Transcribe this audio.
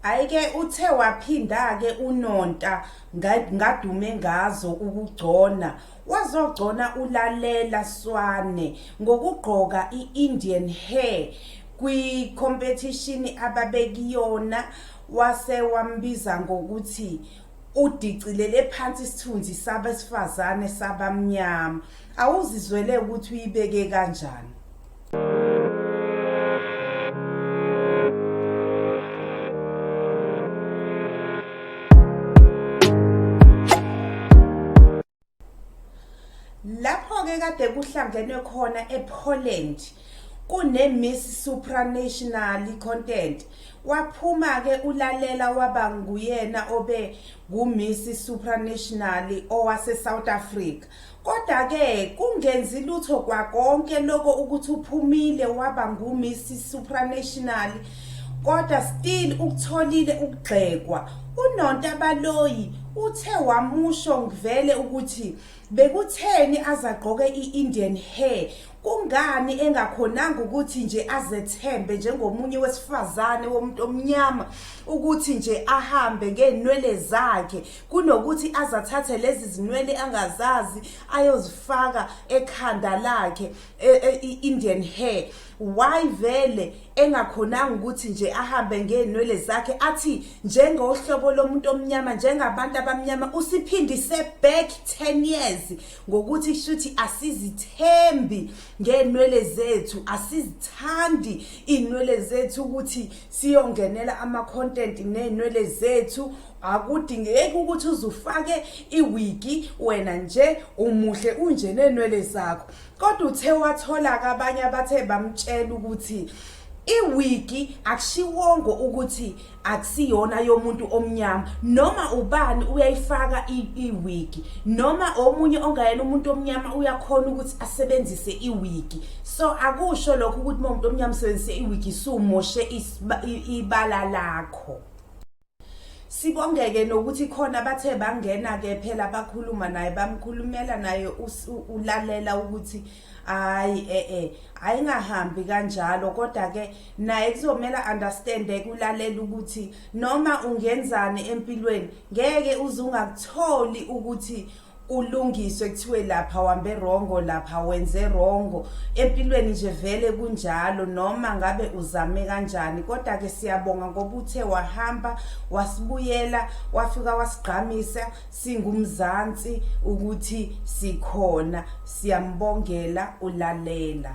Ayike uthe waphinda-ke unonta ngadume ngazo ukugcona wazogcona ulalela swane ngokugqoka i-indian hair kwikhompethishini ababekuyona wase wambiza ngokuthi udicilele phansi isithunzi sabesifazane sabamnyama awuzizwele ukuthi uyibeke kanjani lapho-ke kade kuhlangenwe khona epoland kune-miss supranational content waphuma-ke ulalela waba nguyena obe ngu-miss supranational owase-south africa Kodwa-ke kungenzi lutho kwakonke loko ukuthi uphumile waba nguMiss Supranational kodwa still ukutholile ukugxekwa unonta baloyi uthe wamusho ngivele ukuthi bekutheni azagqoke i-indian hair kungani engakhonanga ukuthi nje azethembe njengomunye wesifazane womuntu omnyama ukuthi nje ahambe ngeenwele zakhe kunokuthi azathathe lezi zinwele angazazi ayozifaka ekhanda lakhe e, e, i-indian hair why vele engakhonanga ukuthi nje ahambe ngeenwele zakhe athi njengohlobo lomuntu omnyama njengabantu abamnyama usiphindise back 10 years ngokuthi shuthi asizithembi ngeenwele zethu asizithandi inwele zethu ukuthi siyongenela ama-content neynwele zethu akudingeki ukuthi uzufake iwigi wena nje umuhle unje neynwele zakho kodwa uthe wathola-ke abanye abathe bamtshela ukuthi iwigi akushiwongo ukuthi akusiyona yomuntu omnyama noma ubani uyayifaka iwigi noma omunye ongayena umuntu omnyama uyakhona ukuthi asebenzise iwigi so akusho lokho ukuthi uma umuntu omnyama usebenzise iwigi sumoshe ibala lakho sibongeke nokuthi khona bathe bangena ke phela bakhuluma naye bamkhulumela naye ulalela ukuthi hayi eh eh ayingahambi kanjalo kodwa ke naye kuzomela understand ekulalela ukuthi noma ungenzani empilweni ngeke uzungakutholi ukuthi ulungiswe kuthiwe lapha wambe rongo lapha wenze rongo empilweni nje vele kunjalo noma ngabe uzame kanjani kodwa ke siyabonga ngoba uthe wahamba wasibuyela wafika wasigqamisa singumzansi ukuthi sikhona siyambongela ulalela